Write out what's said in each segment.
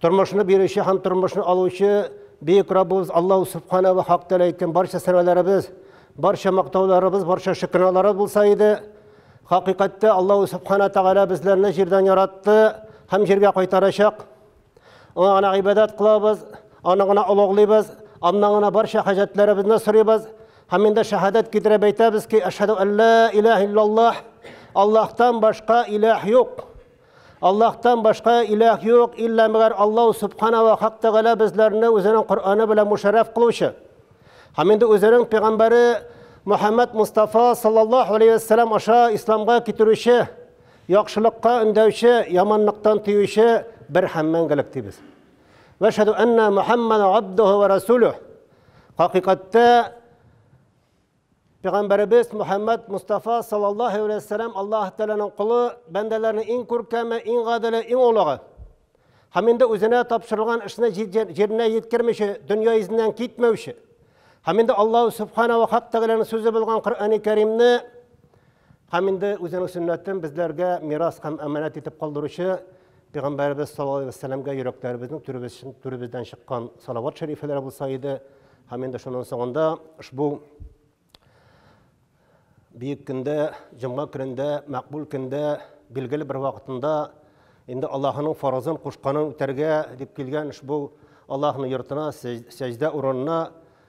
Тормышны бирүче һәм тормышны алучы Бөек Раббыбыз Аллаһу Субхана ва Хак Тәлә әйткән барча сәнәләребез, барча мактауларыбыз, барча шөкранәләр булса иде, хакыйкатьтә Аллаһу Субхана Тәгалә безләрне җирдән яратты һәм җиргә кайтарачак. Аңа гына гыйбадәт кылабыз, аны гына олуглыйбыз, аннан гына барча хаҗәтләребезне сорыйбыз һәм инде шәһадәт китереп әйтәбез ки, әшһәду әллә илаһ иллаллаһ, Аллаһтан башка илаһ юк. Аллаһтан башка иләһ юк, илла мәгәр Аллаһ субхана ва хак тәгалә безләрне үзенең Коръәне белән мушәррәф кылучы. Һәм инде үзенең пәйгамбәре Мөхәммәд Мустафа саллаллаһу алейһи ва сәлләм аша исламга китерүче, яхшылыкка өндәүче, яманлыктан тыючы бер һәм мәңгелек дибез. Ва шәһәду әннә Мөхәммәдән абдуһу ва расулуһ. Хакыйкатьтә Пәйгамбәребез Мөхәммәд Мустафа саллаллаһу алейһи ва сәлләм Аллаһ Тәгаләнең колы, бәндәләрнең иң күркәме, иң гаделе, иң олыгы. Һәм инде үзенә тапшырылган эшне җиренә җиткермичә, дөнья йөзеннән китмәүче. Һәм инде Аллаһу субхана ва хак Тәгаләнең сүзе булган Коръәни Кәримне Һәм инде үзенең сөннәтен безләргә мирас һәм әманәт итеп калдыручы Пәйгамбәребез саллаллаһу алейһи вәссәламгә йөрәкләребезнең түребездән чыккан салават шәрифләре булса иде. Һәм инде шуның соңында ошбу бөек көндә, җомга көнендә, мәкбул көндә, билгеле бер вакытында инде Аллаһының фаразын кушканын үтәргә дип килгән ошбу Аллаһның йортына, сәҗдә урынына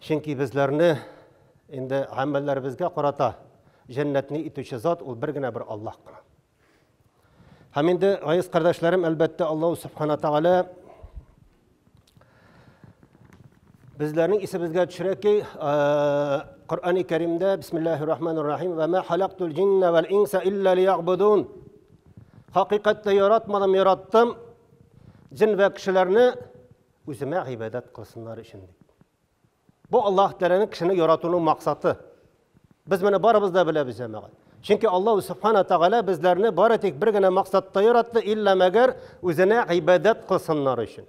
Чөнки безләрне инде гамәлләребезгә карата җәннәтне итүче зат ул бер генә бер Аллаһ кына. Һәм инде, гайыз кардәшләрем, әлбәттә, Аллаһ Субхана Тәгалә Безләрнең исебезгә төшерә ки, Коръәни Кәримдә Бисмиллаһир Рахманир Рахим ва ма халактул джинна вал инса илля лиябудун. Хакыйкатьтә яратмадым, яраттым джин ва кешеләрне Үземә гыйбадәт кылсыннар өчен дип. Бу Аллаһ Тәгаләнең кешене яратуның максаты. Без моны барыбыз да беләбез, җәмәгать. Чөнки Аллаһ Субхана Тәгалә безләрне бары тик бер генә максатта яратты, илла мәгәр үзенә гыйбадәт кылсыннар өчен.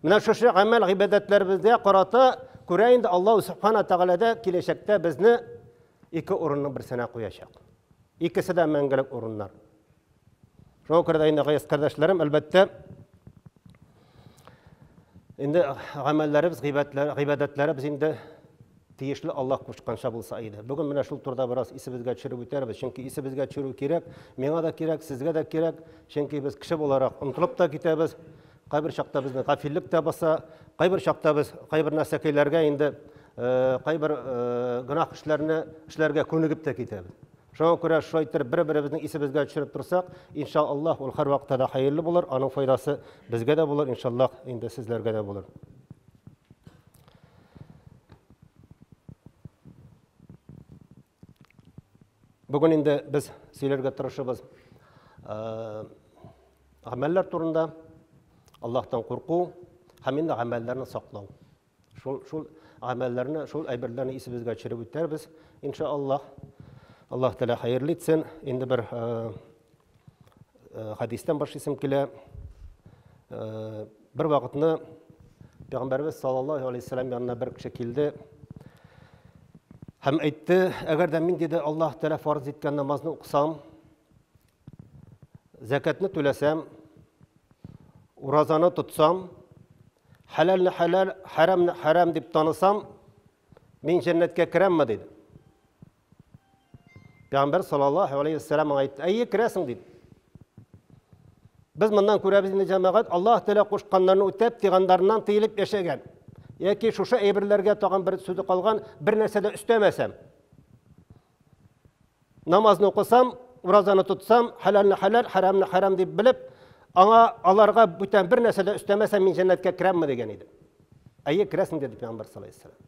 Менә шушы гамәл гыйбадәтләребезгә карата күрә инде Аллаһ Субхана Тәгаләдә киләчәктә безне ике урынның берсенә куячак. Икесе дә мәңгелек урыннар. Шуңа күрә дә инде гаяз кардәшләрем, әлбәттә, инде гамәлләребез, гыйбадәтләребез инде тиешле Аллаһ кушканча булса иде. Бүген менә шул турыда бераз исебезгә төшереп үтәрбез, чөнки исебезгә төшерү кирәк, миңа да кирәк, сезгә дә кирәк, чөнки без кеше буларак онтылып та китәбез. Кайбер чакта безне гафиллек тә баса, кайбер чакта без кайбер нәрсәкәйләргә инде кайбер гөнаһ эшләрне эшләргә күнегеп тә китәбез. Шуңа күрә шулай иттереп бер-беребезнең исебезгә төшереп торсак, инша Аллаһ, ул һәрвакытта да хәерле булыр, аның файдасы безгә дә булыр, инша Аллаһ, инде сезләргә дә булыр. Бүген инде без сөйләргә тырышыбыз гамәлләр турында, Аллаһтан курку һәм инде гамәлләрне саклау. Шул, шул гамәлләрне, шул әйберләрне исебезгә төшереп үтәрбез, инша Аллаһ. Аллаһ Тәлә хәерле итсен. Инде бер э, э, хадистан башлыйсым килә. Э, бер вакытны Пәйгамбәрбез саллаллаһу алейхи вәсәләм янына бер кеше килде һәм әйтте, әгәр дә мин диде Аллаһ Тәлә фарз иткән намазны укысам, Зәкәтне түләсәм, уразаны тотсам, хәләлне хәләл, хәрәмне хәрәм дип танысам, мин җәннәткә керәмме диде. Пәйгамбер саллаллаһу алейхи вәссәлам аңа әйтте, әйе, керәсең диде. Без моннан күрәбез инде җәмәгать, Аллаһ Тәгалә кушканнарны үтәп, тыйганнарыннан тыелып яшәгән. Яки шушы әйберләргә тагын бер сүзе калган, бер нәрсә дә өстәмәсәм. Намазны укысам, уразаны тотсам, хәләлне хәләл, хәрәмне хәрәм дип белеп, аңа аларга бүтән бер нәрсә дә өстәмәсәм, мин җәннәткә керәмме дигән иде. Әйе, керәсең диде Пәйгамбәр саллаллаху алейһи вәсәлләм.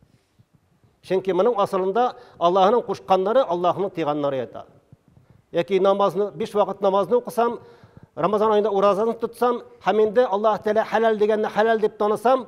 Чөнки моның асылында Аллаһның кушканнары, Аллаһның тыйганнары ята. Яки намазны, биш вакыт намазны укысам, Рамазан айында уразаны тотсам, һәм инде Аллаһ Тәгалә хәләл дигәнне хәләл дип танысам,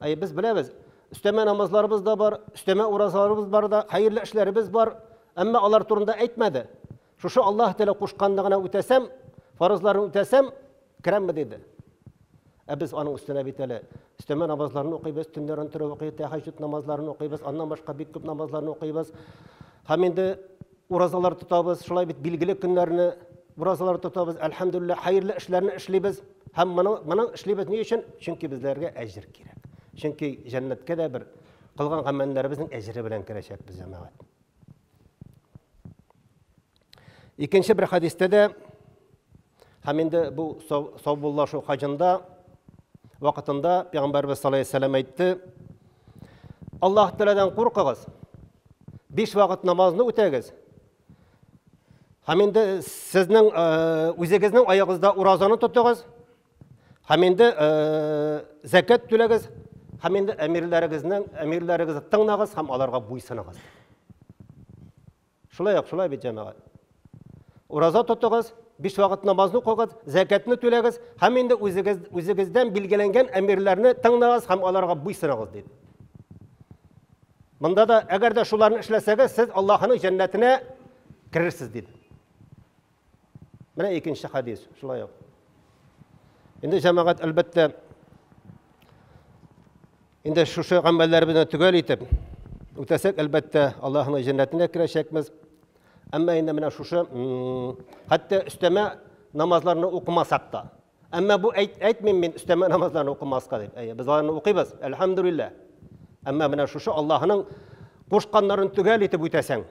Әйе, без беләбез. Өстәмә намазларыбыз да бар, өстәмә уразаларыбыз бар да, хәерле эшләребез бар. Әмма алар турында әйтмәде. Шушы Аллаһ Тәгалә кушканны гына үтәсәм, фарызларын үтәсәм, керәмме диде. Ә без аның өстенә бит әле өстәмә намазларны укыйбыз, төннәрен торып укыйбыз, тәһәҗҗүд намазларын укыйбыз, аннан башка бик күп намазларны укыйбыз. Һәм инде Уразалар тотабыз, шулай бит билгеле көннәрне уразалар тотабыз, әлхәмдүлилләһ, хәерле эшләрне эшлибез. Һәм моны моны эшлибез ни өчен? Чөнки безләргә әҗер кирәк. Чөнки җәннәткә дә бер кылган гамәлләребезнең әҗере белән керәчәкбез, җәмәгать. Икенче бер хадистә дә Һәм инде бу саубуллашу хаҗында вакытында пәйгамбәрбез саллаллаһу алейһи ва әйтте: Аллаһ Тәгаләдән куркыгыз, биш вакыт намазны үтәгез. Һәм инде сезнең үзегезнең аягызда уразаны тотыгыз. Һәм инде закат түләгез. Һәм инде әмирләрегезнең әмирләрегезне тыңлагыз һәм аларга буйсыныгыз. Шулай ук, шулай бит, җәмәгать. Ураза тотыгыз, биш вакыт намазны укыгыз, зәкәтне түләгез һәм инде үзегез, үзегездән билгеләнгән әмирләрне тыңлагыз һәм аларга буйсынагыз диде. Монда да, әгәр дә шуларны эшләсәгез, сез Аллаһының җәннәтенә керерсез диде. Менә икенче хадис, шулай ук. Инде җәмәгать әлбәттә инде шушы гамәлләр белән төгәл итеп үтәсәк, әлбәттә, Аллаһның җәннәтенә керәчәкбез. Әмма инде менә шушы хәтта өстәмә намазларны укымасак та, Әмма бу әйт, әйтмим мин өстәмә намазларны укымаска дип. Әйе, без аларны укыйбыз, әлхәмдүлилләһ. Әмма менә шушы Аллаһының кушканнарын төгәл итеп үтәсәң,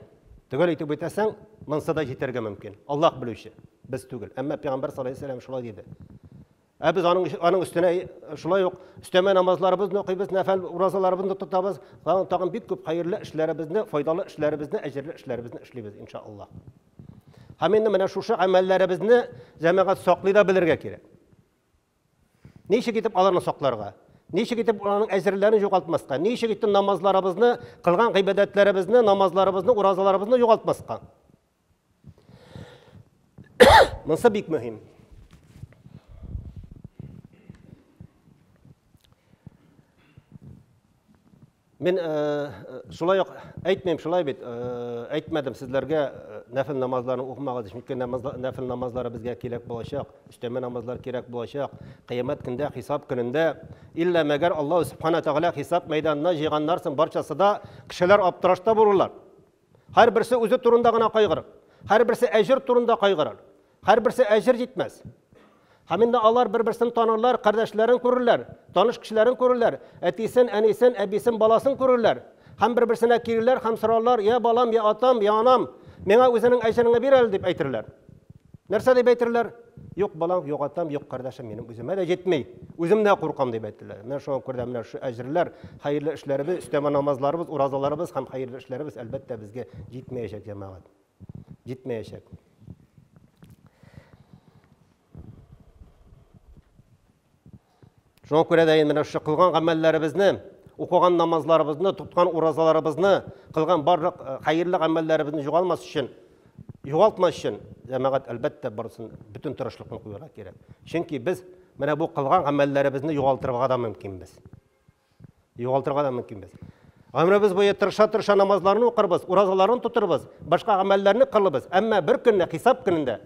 төгәл итеп үтәсәң, монсы да җитәргә мөмкин. Аллаһ белүче, без түгел. Әмма пәйгамбәр саллаллаху алейһи вәсәлләм шулай диде. Ә без аның аның өстенә шулай ук өстәмә намазларыбызны укыйбыз, нәфәл уразаларыбызны тотабыз, тагын бик күп хәерле эшләребезне, файдалы эшләребезне, әҗерле эшләребезне эшлибез, иншаллаһ. Һәм инде менә шушы әмәлләребезне җәмәгать саклый да белергә кирәк. Ничек итеп аларны сакларга? Ничек итеп аларның әҗерләрен югалтмаска? Ничек итеп намазларыбызны, кылган гыйбадәтләребезне, намазларыбызны, уразаларыбызны югалтмаска? Монсы бик мөһим. Мин э, э, шулай ук әйтмим, шулай бит, э, әйтмәдем сезләргә нәфил намазларын укымагыз, чөнки нәфил намазлары безгә кирәк булачак, өстәмә намазлар кирәк булачак. Кыямәт көндә, хисап көнендә, иллә мәгәр Аллаһ Субхана тәгалә хисап мәйданына җыйганнарсын барчасы да кешеләр аптырашта булырлар. Һәрберсе үзе турында гына кайгырыр. Һәрберсе әҗер турында кайгырыр. Һәрберсе әҗер җитмәс. Һәм инде алар бер-берсен танырлар, кардәшләрен күрерләр, таныш кешеләрен күрерләр, әтисен, әнисен, әбисен, баласын күрерләр. Һәм бер-берсенә килерләр һәм сорарлар, я балам, я атам, я анам, миңа үзенең әҗереңне бир әле, дип әйтерләр. Нәрсә дип әйтерләр? Юк балаң, юк атам, юк кардәшем минем үземә дә җитми. Үзем дә куркам дип әйттеләр. Менә шуңа күрә дә менә шу әҗерләр, хәерле эшләребез, өстәмә намазларыбыз, уразаларыбыз һәм хәерле эшләребез әлбәттә безгә җитмәячәк, җәмәгать. Җитмәячәк. Шуңа күрә дә менә шушы кылган гамәлләребезне, укыган намазларыбызны, тоткан уразаларыбызны, кылган барлык э, хәерле гамәлләребезне югалмас өчен, югалтмас өчен җәмәгать әлбәттә барысын бөтен тырышлыкны куярга кирәк. Чөнки без менә бу кылган гамәлләребезне югалтырга да мөмкинбез. Югалтырга да мөмкинбез. Гомребез буе тырыша-тырыша намазларны укырбыз, уразаларны тотырбыз, башка гамәлләрне кылыбыз, әмма бер көнне хисап көнендә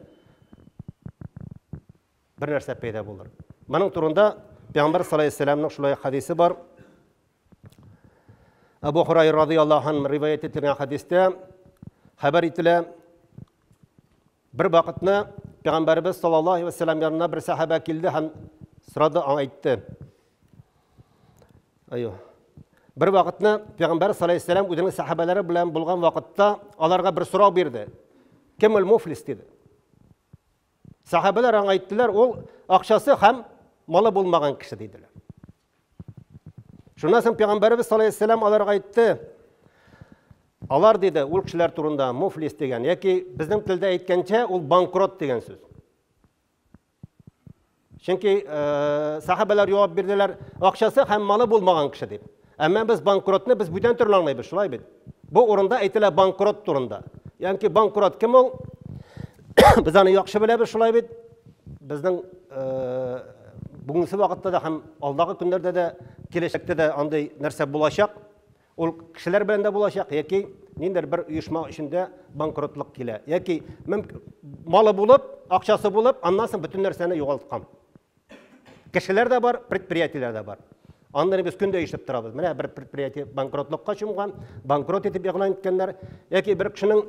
бер нәрсә пәйда булыр. Моның турында Пәйгамбәр саллаллаһу алейһи ва сәлләмнең шулай хәдисе бар. Абу Хурайра радияллаһу анһу риваять ителгән хәдистә хәбәр ителә. Бер вакытны Пәйгамбәрбез саллаллаһу алейһи ва сәлләм янына бер сәхәбә килде һәм сорады, аңа әйтте. Айо. Бер вакытны Пәйгамбәр саллаллаһу алейһи ва сәлләм үзенең сәхәбәләре белән булган вакытта аларга бер сорау бирде. Кем ул муфлис диде. Сәхәбәләр аңа әйттеләр, ул акчасы һәм малы булмаган кеше диделәр. Шуннан соң пәйгамбәребез саллаллаху алейхи вәсәлләм аларга әйтте, алар диде ул кешеләр турында муфлис дигән, яки безнең телдә әйткәнчә ул банкрот дигән сүз. Чөнки э, сахабалар җавап бирделәр, акчасы һәм малы булмаган кеше дип. Әмма без банкротны без бүтән төрле аңлыйбыз, шулай бит? Бу урында әйтелә банкрот турында. Янки банкрот кем ул? Без аны яхшы беләбез, шулай бит? Безнең э, бүгенге вакытта да һәм алдагы көннәрдә дә, киләчәктә дә андый нәрсә булачак. Ул кешеләр белән дә булачак, яки ниндер бер оешма эчендә банкротлык килә. Яки малы булып, акчасы булып, аннан соң бөтен нәрсәне югалткан. Кешеләр дә бар, предприятиеләр дә бар. Аннары без көндә ишетеп торабыз. Менә бер предприятие банкротлыкка чумган, банкрот итеп игълан иткәннәр. Яки бер кешенең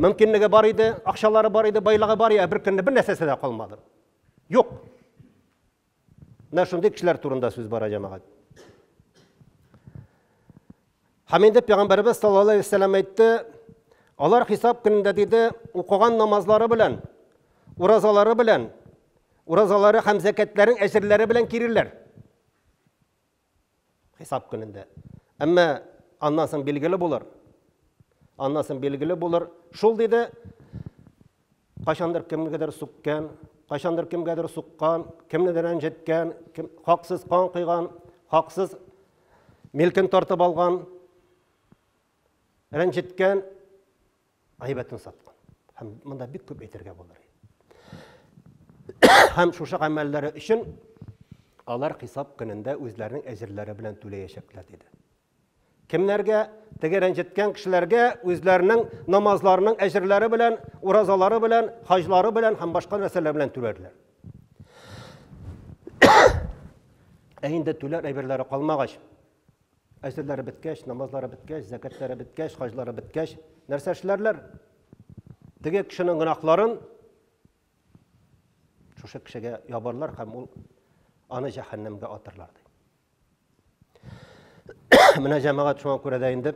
мөмкинлеге бар иде, акчалары бар иде, байлыгы бар иде, ә бер көнне бер нәрсәсе дә калмады. Юк. Менә шундый кешеләр турында сүз бара, җәмәгать. Һәм инде пәйгамбәребез саллаллаһу алейһи вәсәлләм әйтте, алар хисап көнендә диде, укыган намазлары белән, уразалары белән, уразалары һәм зәкәтләрен әҗерләре белән киреләр. Хисап көнендә. Әмма аннан соң билгеле булыр. Аннан соң билгеле булыр. Шул диде, Кайчандыр кемгәдер сүккән, кайчандыр кемгәдер суккан, кемнедер рәнҗеткән, кем, хаксыз кан койган, хаксыз милкен тартып алган, рәнҗеткән, әйбәтен саткан. Һәм монда бик күп әйтергә булыр. Һәм шушы гамәлләре өчен алар хисап көнендә үзләренең әҗерләре белән түләячәкләр диде. Кемнәргә? Теге рәнҗеткән кешеләргә үзләренең намазларының әҗерләре белән, уразалары белән, хаҗлары белән һәм башка нәрсәләр белән түләрләр. Ә инде түләр әйберләре калмагач, әҗерләре беткәч, намазлары беткәч, зәкәтләре беткәч, хаҗлары беткәч, нәрсә эшләрләр? Теге кешенең гөнаһларын шушы кешегә ябарлар һәм ул аны җәһәннәмгә атырлар ди. Менә җәмәгать шуңа күрә дә инде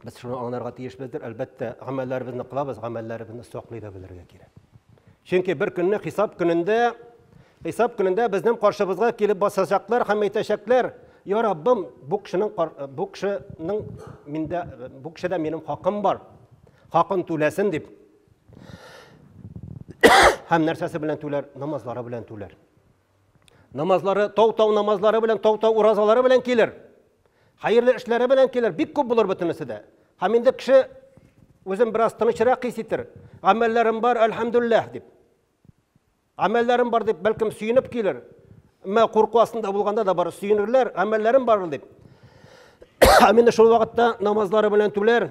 без шуны аңларга тиешбездер. Әлбәттә, гамәлләребезне кылабыз, гамәлләребезне саклый да белергә кирәк. Чөнки бер көнне хисап көнендә хисап көнендә безнең каршыбызга килеп басачаклар һәм әйтәчәкләр, "Я Раббым, бу кешенең бу кешенең миндә бу кешедә минем хакым бар. Хакын түләсен" дип. Һәм нәрсәсе белән түләр? Намазлары белән түләр. Намазлары, тау-тау намазлары белән, тау-тау уразалары белән килер. Хәерле эшләре белән килер. Бик күп булыр бөтенесе дә. Һәм инде кеше үзен бераз тынычрак хис итер. Гамәлләрем бар, әлхәмдүлилләһ дип. Гамәлләрем бар дип, бәлкем сөенеп килер. Әмма курку астында булганда да бар сөенерләр, гамәлләрем бар дип. Ә менә шул вакытта намазлары белән түләр,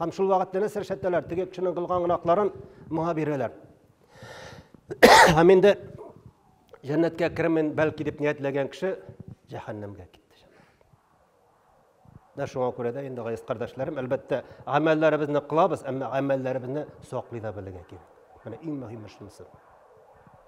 Һәм шул вакыт нәнәс рәшәттәләр теге кешенең кылган гынакларын моңа бирәләр. Һәм инде җәннәткә кермен бәлки дип ниятләгән кеше җәһәннәмгә китте. Дә шуңа күрә дә инде гайс кардәшләрем, әлбәттә, гамәлләребезне кылабыз, әмма гамәлләребезне саклый да белергә кирәк. Менә иң мөһиме шунысы.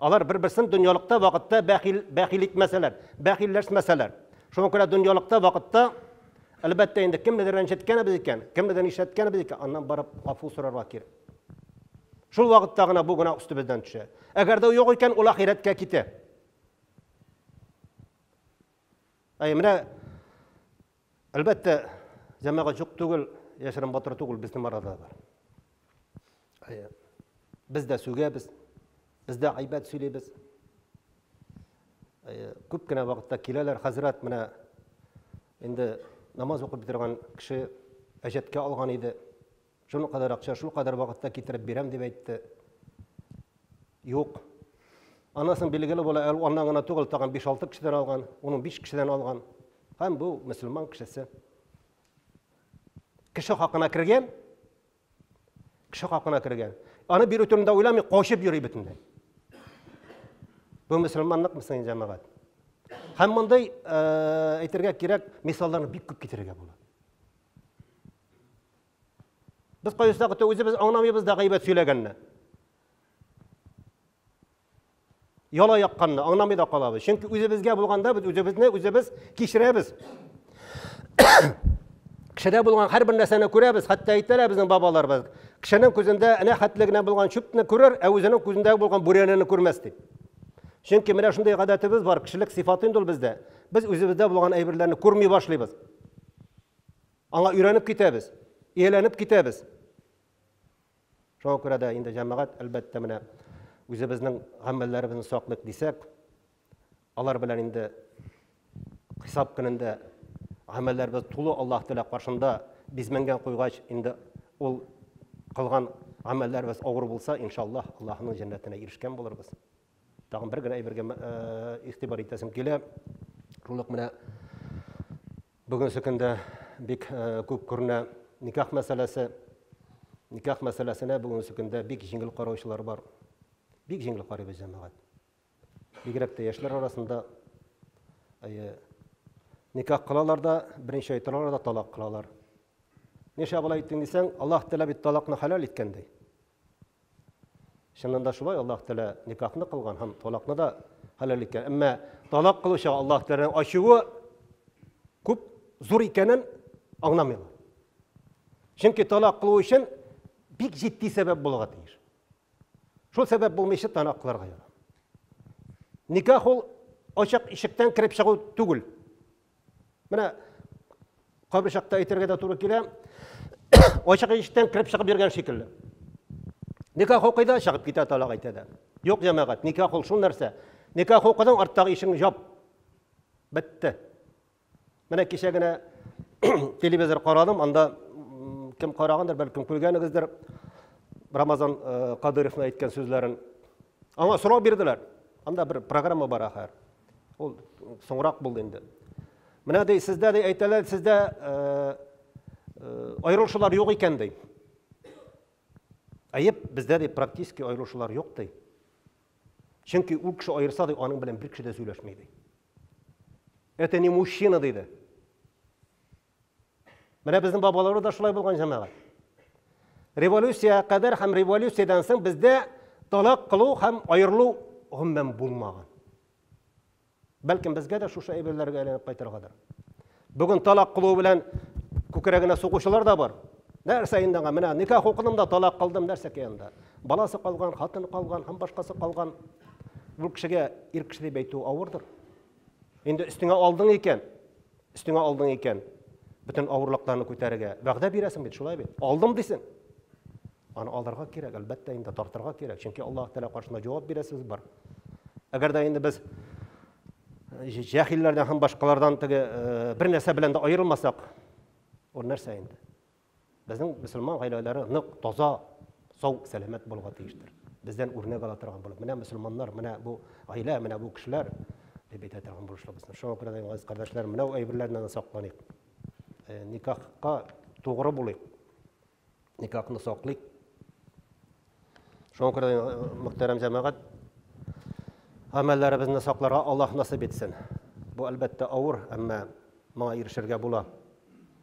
Алар бер-берсен дөньялыкта вакытта бәхил, бәхил итмәсәләр, бәхилләшмәсәләр. Шуңа күрә дөньялыкта вакытта, әлбәттә, инде кемнедер рәнҗеткәнебез икән, кемнедер нишләткәнебез икән, аннан барып гафу сорарга кирәк. Шул вакытта гына бу гына өстебездән төшә. Әгәр дә юк икән, ул ахирәткә китә. Әй, менә Әлбәттә, җәмәгать юк түгел, яшерен батыр түгел, безнең арада бар. Әйе. Без дә сүгәбез, без дә айбәт сөйлибез. Әйе, күп кенә вакытта киләләр, хәзрәт менә инде намаз укып бетерген кеше әҗәткә алган иде. Шуның кадәр акча, шул кадәр вакытта китереп бирәм, дип әйтте. Юк. Аннан соң билгеле була, әле аннан гына түгел, тагын 5-6 кешедән алган, уның 5 кешедән алган. Һәм бу мөселман кешесе. Кеше хакына кергән, кеше хакына кергән. Аны бирү турында уйламый, качып йөри бөтенләй. Бу мөселманлык мөсәйин җәмәгать. Һәм мондый э, әйтергә кирәк, мисалларны бик күп китерергә була. Без кайсы вакытта үзебез аңламыйбыз да гайбәт сөйләгәнне. Яла якканны аңламый да калабыз. Чөнки үзебезгә булганда без үзебезне үзебез кичерәбез. Кешедә булган һәрбер нәрсәне күрәбез, хәтта әйтәләр безнең бабаларыбыз. Кешенең күзендә әнә хәтле генә булган чүпне күрер, ә үзенең күзендә булган бүрәнәне күрмәс дип. Чөнки менә шундый гадәтебез бар, кешелек сыйфаты инде ул бездә. Без үзебездә булган әйберләрне күрми башлыйбыз. Аңа өйрәнеп китәбез, ияләнеп китәбез. Шуңа күрә дә инде җәмәгать, әлбәттә, менә үзебезнең гамәлләребезне саклыйк дисәк, алар белән инде хисап көнендә гамәлләребез тулы Аллаһ Тәгалә каршында бизмәнгән куйгач, инде ул кылган гамәлләребез авыр булса, иншаллаһ, Аллаһның җәннәтенә ирешкән булырбыз. Тагын бер генә әйбергә э, игътибар итәсем килә. Шул ук менә Бүгенге көндә бик күп күренә никах мәсьәләсе. Никах мәсьәләсенә бүгенге көндә бик җиңел караучылар бар. Бик җиңел карыйбыз җәмәгать. Бигрәк тә яшьләр арасында әйе никах кылалар да, беренче әйтер алар да талак кылалар. Нишләп алай иттең дисәң, Аллаһ теләп бит талакны хәләл иткән ди. Чыннан да шулай, Аллаһ Тәгалә никахны кылган һәм талакны да хәләл иткән. Әмма талак кылучы Аллаһ Тәгаләнең ачуы күп зур икәнен аңламыйлар. Чөнки талак кылу өчен бик җитди сәбәп булырга тиеш. Шул сәбәп булмыйча талак кылырга ярамый. Никах ул ачык ишектән кереп чыгу түгел. Менә кайбер чакта әйтергә дә туры килә. Ачык иштән кирип чыгып йөргән шикелле. Никах укыйда чыгып китә талак әйтә дә. Юк, җәмәгать, никах ул шул нәрсә. Никах укыдың, арттагы ишең җап. Бетте. Менә кичә генә телевизор карадым, анда кем карагандыр, бәлкем күргәнегездер. Рамазан э, Кадыровны әйткән сүзләрен. Аңа сорау бирделәр. Анда бер программа бар ахыр. Ул соңрак булды инде. Менә ди, сездә ди әйтәләр, сездә э, э, аерылышулар юк икән ди. Әйеп, бездә ди практически аерылышулар юк ди. Чөнки ул кеше аерса ди, аның белән бер кеше дә сөйләшми ди. Это не мужчина диде. Менә безнең бабаларыбыз да шулай булган җәмәгать. Революциягә кадәр һәм революциядән соң бездә талак кылу һәм аерылу гомумән булмаган. Бәлкем безгә дә шушы әйберләргә әйләнеп кайтыргадыр. Бүген талак кылу белән күкрәгенә сугучылар да бар. Нәрсә инде аңа? Менә никах укыдым да талак кылдым, нәрсә кыянда? Баласы калган, хатын калган һәм башкасы калган. Бу кешегә ир кеше дип әйтү авырдыр. Инде өстеңә алдың икән, Өстеңә алдың икән, бөтен авырлыкларны күтәрергә вәгъдә бирәсең бит, шулай бит? Алдым дисең. Аны алырга кирәк, әлбәттә инде тартырга кирәк, чөнки Аллаһ Тәгалә каршында җавап бирә сүз бар. Әгәр дә инде без э, җәһилләрдән һәм башкалардан теге э, бер нәрсә белән дә аерылмасак, ул нәрсә инде? Безнең мөселман гаиләләре нык, таза, сау, сәламәт булырга тиештер. Бездән үрнәк ала торган булып, менә мөселманнар, менә бу гаилә, менә бу кешеләр дип әйтә торган булышлыбыз. Шуңа күрә дә, газиз кардәшләр, менә әйберләрне сакланыйк. Э, никахка тугры булыйк. Никахны саклыйк. Шуңа күрә дә, э, мөхтәрәм җәмәгать, гамәлләребезне сакларга Аллаһ насыйп итсен. Бу әлбәттә авыр, әмма моңа ирешергә була.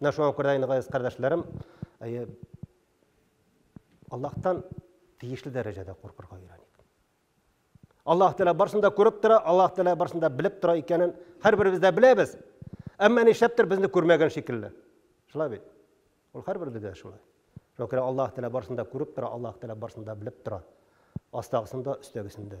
Менә шуңа күрә инде газиз кардәшләрем, әйе, Аллаһтан тиешле дәрәҗәдә куркырга өйрәник. Аллаһ Тәгалә барсын да күреп тора, Аллаһ Тәгалә барсын да белеп тора икәнен һәрберебез дә беләбез. Әмма нишләптер безне күрмәгән шикелле. Шулай бит. Ул һәрберебез дә шулай. Шуңа күрә Аллаһ Тәгалә барсын да күреп тора, Аллаһ Тәгалә барсын да белеп тора. Астагысын да, өстәгесен дә.